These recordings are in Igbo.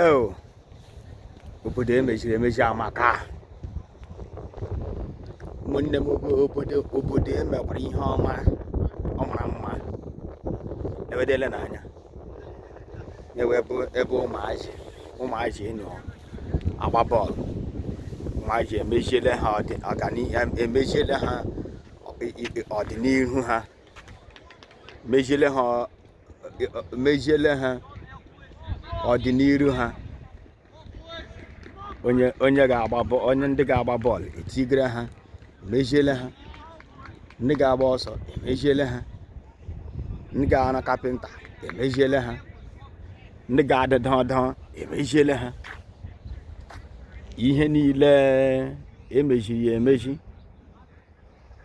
eo obodo emeziri emezi amaka ụmụnne m obodo obodo emekwara ihe ọma ọ mara mma ewedele n'anya ewe ebe ụmụazị ụmụazị nọ agba bọọlụ ụmụazị emeziele ha emeziele ha ọdịnihu ha meziele ha meziele ha ọdịnihu ha onye onye ga-agba bọ- onye ndị ga-agba bọọlụ etigere ha emeziele ha ndị ga-agba ọsọ emeziele ha ndị ga-arụ kapịnta emeziele ha ndị ga-adụ ọdụdụ emeziele ha ihe niile emeziri emezi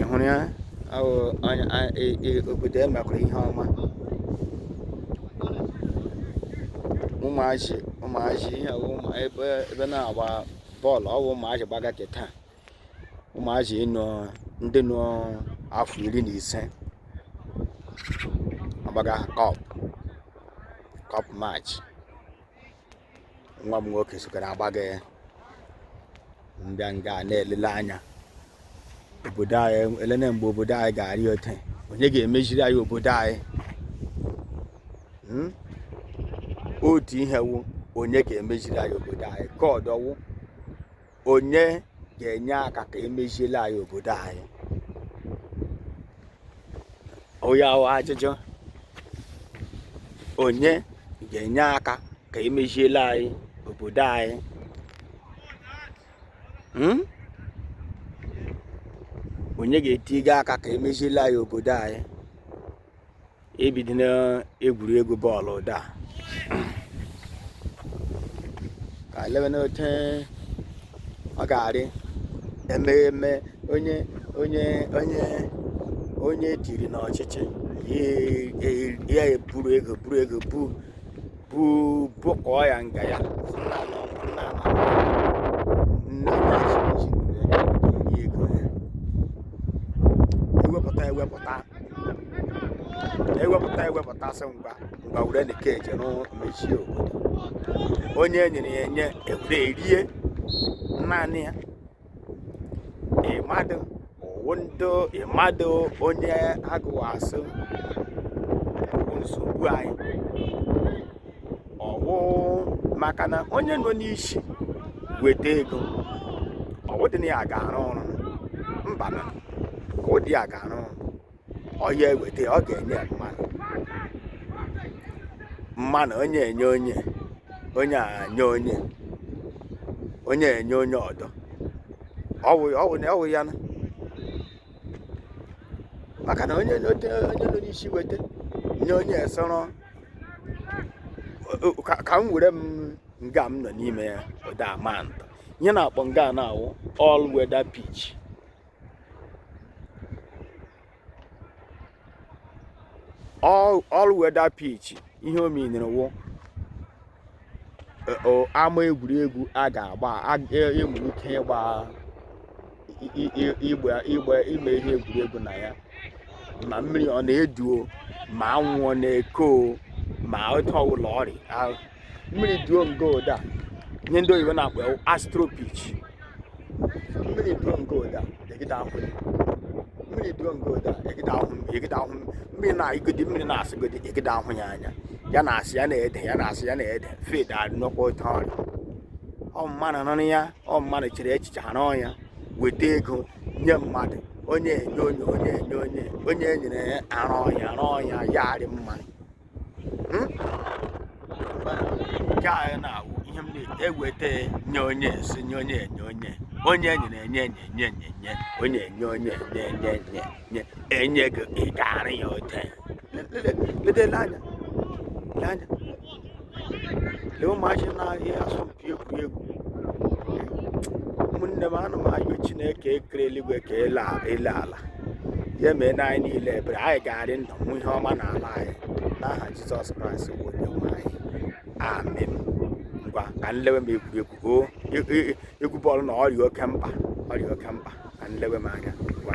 ị hụrụ ya obodo e mekwara ihe ọma ụmụazị ụmụazị ihe ebe na-agba bọọlụ ọ bụ ụmụazị gbaga kịta ụmụazị ịnọ ndị nọ afọ iri na ise agbaga cup cup match nwa m nwoke sokara agbaga nga ngaa na-elele anya obodo anyị elene mgbe obodo anyị ga-arị ote onye ga-emeziri anyị obodo anyị hmm? otu ihe wụ onye ga-emeziri anyị obodo anyị ka ọdọwụ onye ga-enye aka ka emeziele anyị obodo anyị ọ ya wụ ajụjụ onye ga-enye aka ka emeziele anyị obodo anyị hmm? onye ga-etiga aka ka emeziele anyị obodo anyị ebido na egwuregwu bọọlụ ụda ka elebe n'ote ọ ga-arị ememe onye onye onye onye dịrị n'ọchịchị ya eburu ego buru ego bu bụ bụkọọ ya nga ya ewepụta ewepụta ewepụta ewepụta sị ngwa ngwa were na keji mezie obodo onye nyere ya enye ewere erie naanị ya ị madụ ọ wụ ndị ị madụ onye agụwa asị bụ nsogbu anyị ọ wụ maka na onye nọ n'isi weta ego ọ wụdị na ya ga-arụ ọrụ mba na ọ wụdị ya ga-arụ ọrụ ọ ya eweta ọ ga-enye ya mmanụ mmanụ onye enye onye onye anye onye onye enye onye ọdọ ọ wụ ọ wụ na ọ wụ ya na maka na onye onye onye nọ n'isi weta nye onye soro o- o- ka ka m were m nga m nọ n'ime ya ụda a maa atụ ihe a na-akpọ nga a na-awụ all weather pitch all all weather pitch ihe o meanere wụ e- o- ama egwuregwu a ga-agba a- e- e nwere ike ịgba i- i- i- igba igba ime ihe egwuregwu na ya ma mmiri ọ na-eduo ma anwụ ọ na-eko o, ma otu ọwụla ọ rị ahụ mmiri duo nga ụda ihe ndị oyibo na-akpọ astro pitch mmiri duo nga ụda egide ahụ mmiri duo nga ụda egide ahụ egide ahụ mmiri na-agodi mmiri na-asịgodi egide ahụ ya anya ya na-asị ya na-ede ya na-asị ya na-ede field arịnọkwa otu ọ rị ọ mmadụ rụrụ ya ọ mmadụ chere echiche a rụọ ya weta ego nye mmadụ onye enye onye onye enye onye onye e nyere ya arụọ ya arụọ ya ya arị mma hmm? nke anyị na-awụ ihe m na-eweta nye onye si nye onye enye onye onye nyere enye enye enye enye enye onye enye onye enye enye enye enye enye gị ị ga-arụ ya ote ledele anya lee anya lee ụmụazị na-ahịa asọmpi na-ekiri egwuregwu ụmụnne m ana m ayọ chineke kere eluigwe ka ele a- ele ala ya mee na anyị niile ebere anyị ga-arị ndụ hụ ihe ọma n'ala anyị n'aha jizọs kraịst bụ onye nwe anyị amen ngwa ka nlewe m egwuregwu o e- e- egwu bọọlụ na ọ rị oke mkpa ọ rị oke mkpa ka nlewe m anya ngwa